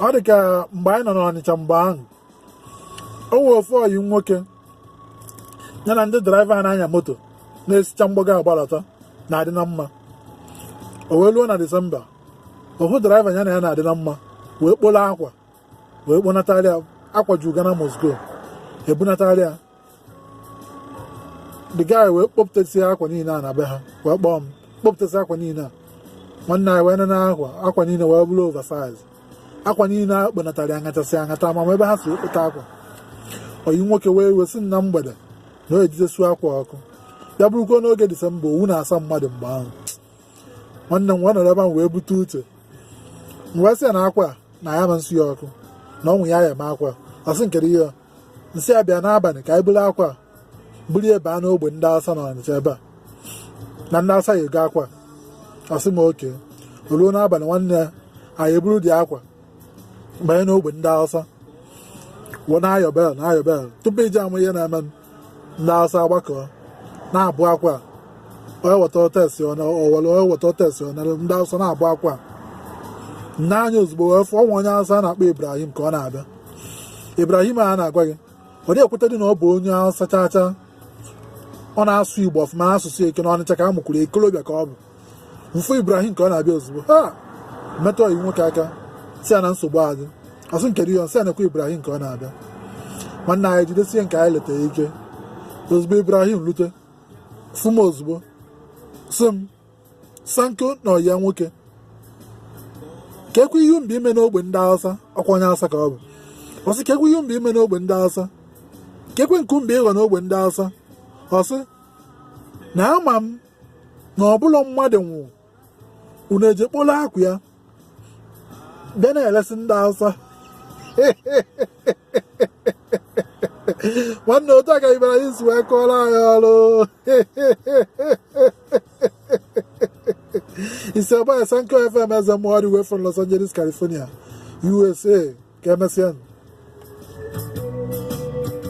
ọ dị ka mgbe anyị nọ n'Ọnịcha mgbe ahụ o nwee ofu ọyị m nwoke ya na ndị draiva a na-anya moto na-esicha mgbago agbalata na-adị na mma o wee luo na disemba ofu draiva ya na ya na-adị na mma wee kpolo akwa wee kponatara ya akwa ju Ghana must go ebunatara ya the guy wee kpọpụtasị akwa niile a na be ha wee kpọọ m kpọpụtasị akwa niile a nwanne anyị wee nene akwa akwa niile wee bụrụ oversize akwa niile a kponatara ya ngachasị angata ma ebe ha si wepụta akwa oyi m nwoke wee wee sị na mgbede na o eje esu akwa ọkụ ya bụrụkwa n'oge disemba owu na-asa mmadụ mgbe ahụ nwanne m wee nọrọ ebe ahụ wee bute uche m wee sị ya na akwa na ya ma nsụ ya ọkụ na o nwe ihe a ya-eme akwa ọ sị m kedụ ihe m sị ya bịa n'abalị ka anyị buru akwa buru ya baa n'ogbe ndị awụsa na ọnịcha ebe a na ndị awụsa ya-ego akwa ọ sị m okay o luo n'abalị nwanne anyị eburu the akwa banye n'ogbe ndị awụsa wee na-ayọ bell na-ayọ bell tupu i je ama ihe na-eme ndị awụsa agbakọ na-abụ akwa onye weta otesi owere onye weta otesi ọ nara ndị awụsa na-agba akwa m nee anya ozugbo wee fụ nwa onye awụsa a na-akpọ ibrahim ka ọ na-abịa ibrahim a na-agwa gị ọ dị ekweta dị na ọ bụ onye awụsa chaa chaa ọ na-asụ igbo ọfụma asụsụ eke na ọnịcha ka a mụkwuru okolobịa ka ọ bụ m fụ ibrahim ka ọ na-abịa ozugbo ha metụ ọyị m nwoke aka sị ya na nsogbu adị ọ sị m kedụ ihe m sị ya nekwa ibrahim ka ọ na-abịa nwanne anyị jidesie nke anyị leta ike ozugbo ibrahim lute fụ m ozugbo sị m sanko na ọyị ya nwoke kekwa ihe m bịa ime n'ogbe ndị Hausa ọ kwa onye Hausa ka ọ bụ ọ sị kekwa ihe m bịa ime n'ogbe ndị Hausa kekwa nke m bịa ịghọ n'ogbe ndị Hausa ọ sị na ama m na ọbụla mmadụ nwụọ unu eje kpolo akwa ya bịa na-elesi ndị awụsa nwanne otu a ka ibrahim si wee kọọrọ anyị ọrụ it's your boy Sanko FM Ezemmụọ all the way from Los Angeles, California, USA. Ka emesịa.